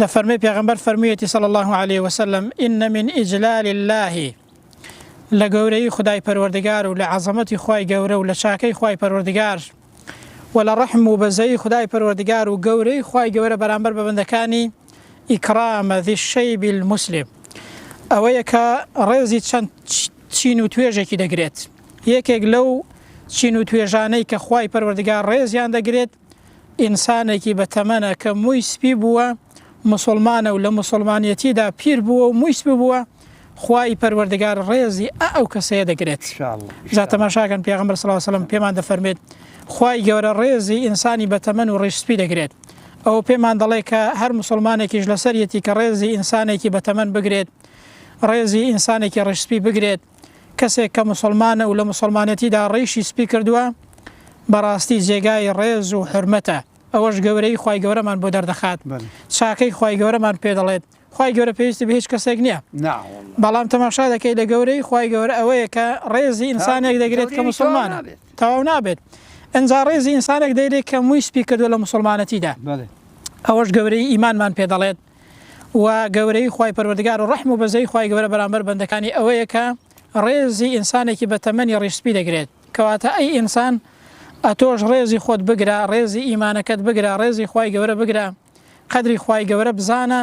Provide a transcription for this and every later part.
دەفەرمێ پێغەمبەر فەرموویەتی صلی اللە علیە وسلم ان من اجلال اللە لە گەورەی خدای پەروەردگار و لە عەزەمەتی خی گەورە و لە چاکەی خی پەروەردگار و لە ڕەحم و بەزەی خدای پەروەردگار و گەورەی خی گەورە بەرامبەر بە بەندەکانی ئیکرامە ذشەی بیل مسلم ئەوەیە کە ڕێزی چەند چین و توێژێکی دەگرێت یەکێک لەو چین و توێژانەی کە خی پەروەردگار ڕێزیان دەگرێت ئینسانێکی بە تەمەنە کە مووی سپی بووە، موسوڵمانە و لە موسوڵمانیەتیدا پیر بووە و مووی سپی بووە، خوای پەروەردگار ڕێزی ئە ئەو کەسەیە دەگرێت. جا تەماشاکەن پێغەمبەر صلی اللە علیە و سلم پێمان دەفەرموێت خوای گەورە ڕێزی ئینسانی بە تەمەن و ڕیش سپی دەگرێت، ئەوە پێمان دەڵێت کە هەر موسوڵمانێکیش لەسەریەتی کە ڕێزی ئینسانێکی بە تەمەن بگرێت، ڕێزی ئینسانێکی ڕیش سپی بگرێت. کەسێک کە موسڵمانە و لە موسڵمانەتیدا ڕیشی سپی کردووە بەڕاستی جێگای ڕێز و حرمەتە ئەوەش گەورەی خی گەورەمان بۆ دەردەخات چاکەی خی گەورەمان پێ دەڵێت خی گەورە پێویستی بە هیچ کەسێک نییە بەڵام تەماشا دەکەی لە گەورەی خی گەورە ئەوەیە کە ڕێزی ئینسانێک دەگرێت کە مسلمان تەواو نابێت ئەجا ڕێزی ئینسانێک دەیرێت کە مووی سپی کردو لە مسلمانەتیدا ئەوەش گەورەی ئیمانمان پێ دەڵێت و گەورەیی خوای پەروەردگار و ڕەحم و بەزەیی خوای گەورە بەرامبەر بەندەکانی ئەوەیە کە ڕێزی ئینسانێکی بە تەمەنی ڕیش سپی دەگرێت کەواتە ئەی ئینسان ئەتۆش ڕێزی خۆت بگرە ڕێزی ئیمانەکەت بگرە ڕێزی خوای گەورە بگرە قەدری خوای گەورە بزانە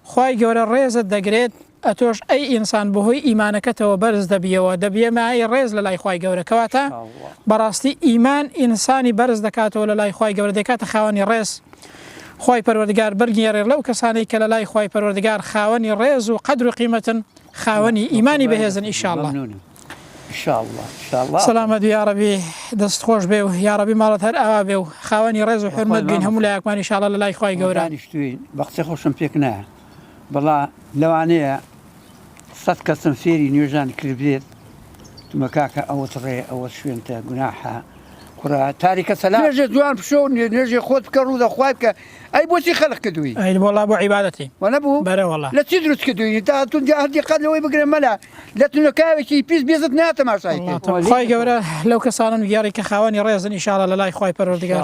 خوای گەورە ڕێزت دەگرێت ئەتۆش ئەی ئینسان بەهۆی ئیمانەکەتەوە بەرز دەبیەوە دەبیە مایەی ڕێز لەلای خوای گەورە کەواتە بەڕاستی ئیمان ئینسانی بەرز دەکاتەوە لەلای خوای گەورە دەکاتە خاوەنی ڕێز خوای پەروەردگار بەرگێڕێ لەو کەسانەی کە لەلای خوای پەروەردگار خاوەنی ڕێز و قەدر و قیمەتن خاوەنی ئیمانی بەهێزن ئیشاڵڵە سەلامەت یاڕەبی دەست خۆش بێ و یاڕەبی ماڵەت هەر ئاوا بێ و خاوەنی ڕێز و حرمەت بین هەموو لایەکمانی شاڵە لە لای خخوای گەورانیشتوین بەقسە خۆشم پێک نایە بەڵا لەوانەیە سەد کەسم فێری نوێژان کردبێت تمە کاکە ئەوەت ڕێ ئەوەت شوێنتە گوناحە کوڕە تاریکە سەلا نوێژێ جوان پشۆ و نوێ- نوێژێ خۆت بکە ڕوو دەخوای بکە ئەی بۆچی خەلق کردووی ئەی والله بۆ عیبادەتی وە نەبوو بەرە والله. لە چی دروست کردووی تا هەتون جا هەر دیقەت لەوەی بگرە مەلا لە تونەکاوێکی پیس بێزت ناتەماشای کرد وڵاتم. خوای گەورە لەو کەسانەم گێڕی کە خاوەنی ڕێزن ئیشاڵا لە لای خوای پەروەردگار.